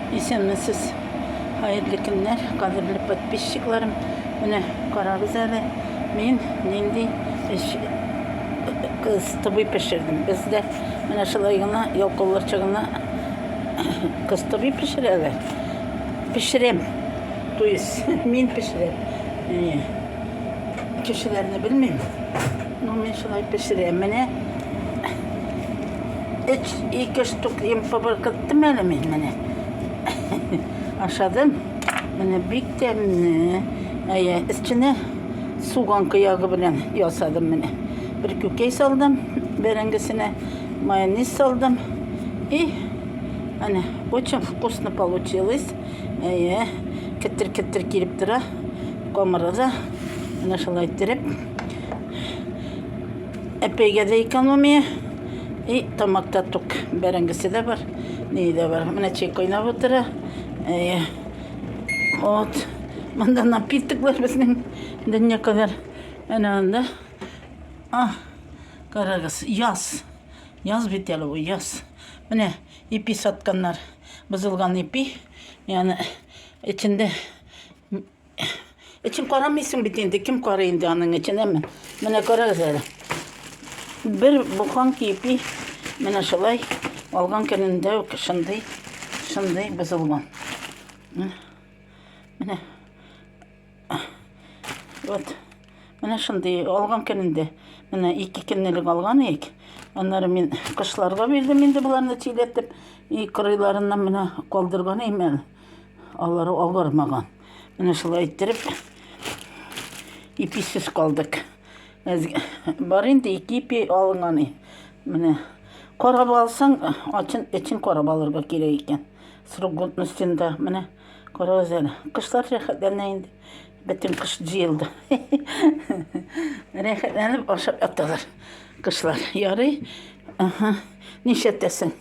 Исәнмесез, хәерле көннәр, кадерле подписчикларым. Менә карагыз әле, мин нинди эш кыстыбый пешердем. Бездә менә шулай гына ялкауларча гына кыстыбый пешерәләр. Пешерәм. То есть, мин пешерәм. Кешеләрне белмим. Ну, мин шулай пешерәм. Менә өч, ике штук емпы быркыттым әле мин менә. Ашадым. Менә бик тәмле. Әйе, эченә суган кыягы белән ясадым менә. Бер күкәй салдым, бәрәңгесенә майонез салдым. И, әне, очень вкусно получилось. Әйе, кеттер-кеттер килеп тора. Камыры да. Менә шулай иттереп. Әпәйгә дә экономия. И тамакта тук бәрәңгесе дә бар. Ни дә бар. Менә чәй кайнап утыра. Э, вот. Монда напитоклар безнең дөнья кадәр. Әнә анда. А, карагыз, яз. Яз бит әле бу, яз. Менә ипи сатканнар. Бозылган ипи. Яны эчендә Эчен карамыйсың бит инде, кем карый инде аның эчен, әмма. Менә карагыз әле. Бер буханка кипи, менә шулай алган көнендә үк шундый, шундый бозылган. Менә. Вот. Менә шундый алган көнендә. Менә ике көнлек алган ик. Аннары мин кышларга бирдем инде боларны тиләтеп, и кырыйларыннан менә калдырган имән. Алары авырмаган. Менә шулай иттереп иписез калдык. Бар инде ике ипи алынган. Менә карап алсаң, ачын эчен карап алырга кирәк икән. Срок годностенда менә карагыз әле. Кышлар рәхәтләнә инде. Бөтен кыш җыелды. Рәхәтләнеп ашап яталар. Кышлар ярый. Ага. Нишәтәсең?